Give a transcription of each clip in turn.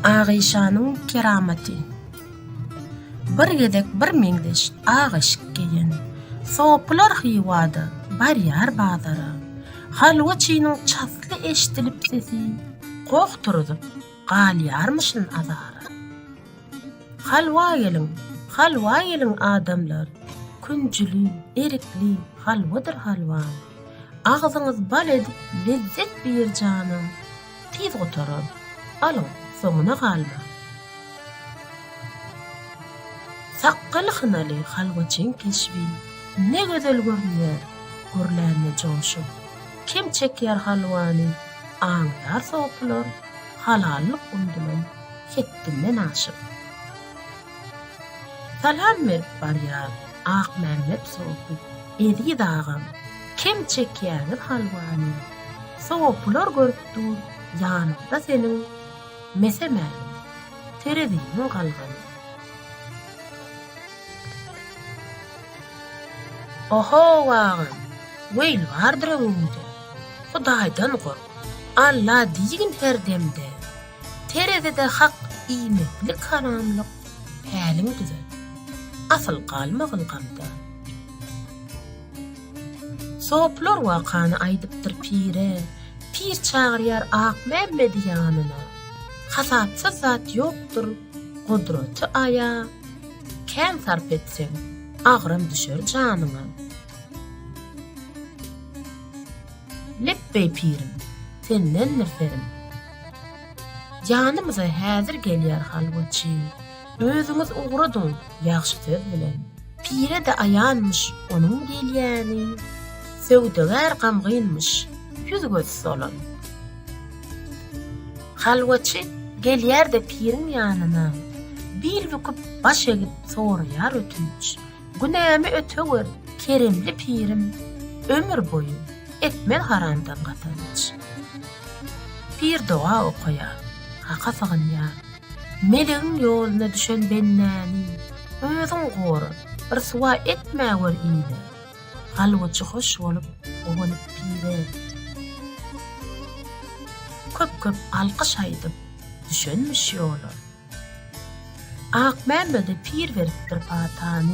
Agyşanyň keramaty Bir gezek bir meňzeş ak eşik geýen sopylar Hywada barýar bazara. Halwaçynyň çasly eşdilip sesi goh turuzyp galýarmyşyn azara. Halwa geliň, halwa geliň adamlar, künjüli, erikli halwadyr halwa. Agzyňyz bal edip lezzet bir janam tiz gutarar alyň soňuna galma. Sakgaly hynaly halwaçyň keşbi ne gözel görünýär gürlände joşup kim çekýär halwany aňdar sopylar halallyk umdylan hetdinden aşyp. Salam berip barýar Akmämmet sopy Eziz agam kem çekýäňiz halwany Sopylar görüp dur ýanyňda seniň Mese-mälim tereziniň galgany. Ohow agam weýl bardyr öňüňde Hudaýdan gork Alla diýgin her demde. Terezide hak iýmitlik haramlyk päliň düze. Asyl galmagyn gamda. Soplar wakany aýdypdyr pire, Pir çagyrýar Akmämmedi ýanyna. Hasapsyz zat ýokdur, gudraty Aýa, Kän sarp etseň, agram düşer janyňa. Lepbeý pirim, sendendir serim. Janymyza häzir gelýär halwaçy. Özüňiz ugradyň ýagşy söz bilen. Pire-de aýanmyş onuň gelýäni. Söwdagär gamgynmyş, ýüz-gözi solan. Halwaçy gelýär-de piriň ýanyna. Bil büküp, baş egip soraýar ötünç. Günämi ötewer, keremli pirim, Ömür boýy, etmez haramdan gazanç. Pir doga okaýar, Haka sygynýar, Melegiň ýoluna düşen bendäni Özüň gora, ryswa etmäwer ile, Galbyjy hoş bolup, guwanyp pire. Köp-köp alkyş aýdyp, düşenmiş ýola. Akmämmede pir beripdir patany,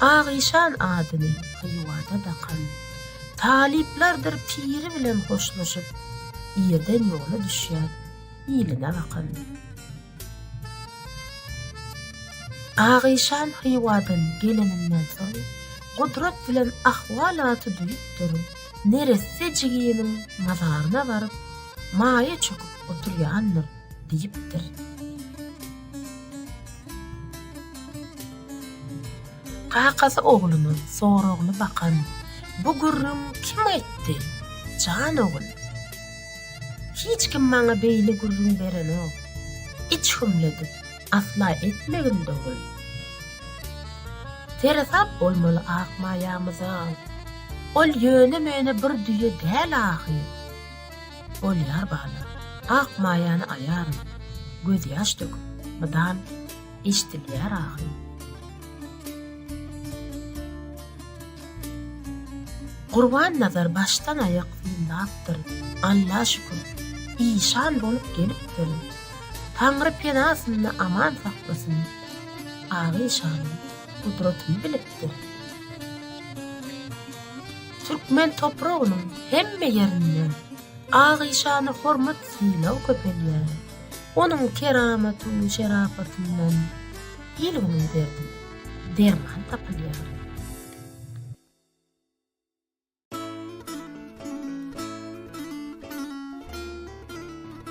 Agyşan adyny Hywada dakan. Talyplardyr piri bilen hoşlaşyp, Irden ýola düşýär iline bakan. Agyşan Hywadan geleninden soň, Gudrat bilen ahwalaty duýupdyr, neresse jiginiň mazaryna baryp, maýa çöküp oturýandyr. Diýipdir. Kakasy ogluna soragly bakan, Bu gürrüň kim aýtdy, jan ogul? Hiç kim maňa beýle gürrüň berenok. Iç hümledip, asla etmegin, dogul. Seresap bolmaly Akmaýamyza. Ol ýöne-möne bir düýe däl ahyr. Bolýar bala, ak maýany aýaryn, gözýaş dök, mydam eşdilýär agyň. Gurbannazar başdan-aýak synlapdyr, Alla şükür, işan bolup gelipdir. Taňry penasynda aman saklasyn, Agyşanyň gudratyny bilipdir. Türkmen topragynyň hemme ýerinde Agyşana hormat-sylag köpelýär. Onuň keramaty we şerapatyndan il-günüň derdine derman tapylýar.